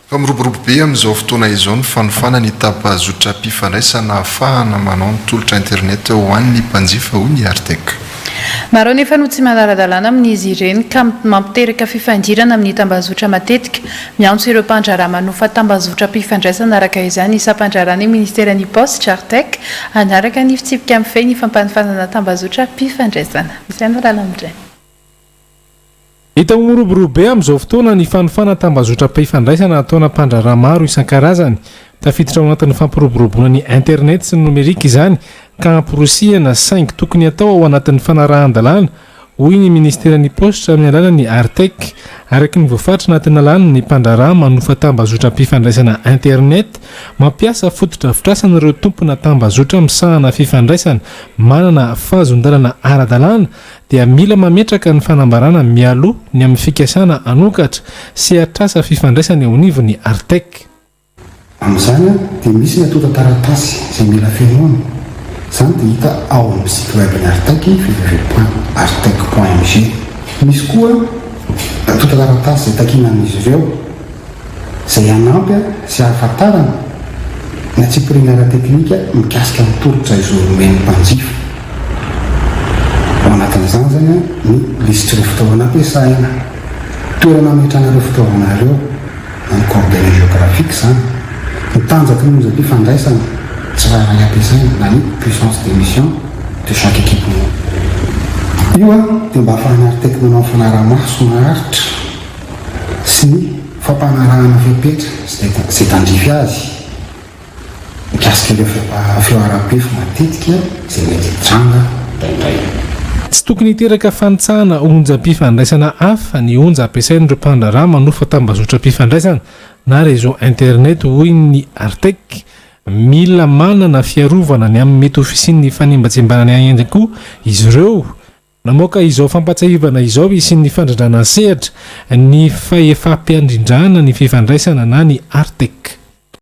Fa miroborobo be amin'izao fotoana izao ny fanofana ny tapazotram-pifandraisana ahafahana manao ny tolotra internet ho an'ny mpanjifa, hoy ny Artec. Maro anefa no tsy manara-dalàna amin'izy ireny ka mampiteraka fifandirana amin'ny tambazotra matetika. Miantso ireo mpandraharaha manofa tambazotram-pifandraisana araka izany ny sampan-draharahan'ny Ministeran'ny Paositra, Artec, hanaraka ny fitsipika mifehy ny fampanofanana tambazotram-pifandraisana. Izay no lalam-dreny. Hita ho miroborobo be amin'izao fotoana ny fanofana tambazotram-pifandraisana ataona mpandraharaha maro isan-karazany. Tafiditra ao anatin'ny fampiroboroboana ny Internet sy ny nomerika izany ka amporisihina saingy tokony atao ao anatin'ny fanarahan-dalàna hoy ny Ministeran'ny Paositra amin'ny alalan'ny Artec. Araka ny voafaritra anaty lalàna, ny mpandraharaha manofa tambazotram-pifandraisana Internet mampiasa fotodrafitrasan'ireo tompona tambazotra misahana fifandraisana manana fahazondalana ara-dalàna dia mila mametraka ny fanambarana mialoha ny amin'ny fikasana hanokatra sehatrasa fifandraisana eo anivon'ny Artec. Amin'izany dia misy ny antontan-taratasy izay mila fenoina. Izany dia hita ao amin'ny site web ny Artec, www.artec.mg. Misy koa antontan-taratasy izay takiana amin'izy ireo izay hanampy sy hahafantarana ny antsipiriany ara-teknika mikasika ny tolotra izoro omen'ny mpanjifa. Ao anatin'izany izany ny lisitr'ireo fitaovana ampiasaina, toerana ametrahana ireo fitaovana ireo, Ny coordonnées géographiques izany. Ny tanjaky ny onjam-pifandraisana tsirairay ampiasaina na ny puissance de mission de chaque équipement. Io dia mba hahafahana arteky manao ny fanarahamaso maharitra sy ny fampanarahana fepetra izay tandrify azy. Mikasika ireo fihoaram-pefy matetika izay mety hitranga indraindray. Tsy tokony hiteraka fanitsahana onjam-pifandraisana hafa ny onja ampiasain'ireo mpandraharaha manofa tambazotram-pifandraisana na réseau internet, hoy ny Artec. Mila manana fiarovana ny amin'ny mety ho fisian'ny fanimbatsimbana ny ahiahy koa izy ireo. Namoaka izao fampahatsiahivana izao hisian'ny fandrindrana an-sehatra ny fahefam-piandrindrana ny fifandraisana na ny Artec.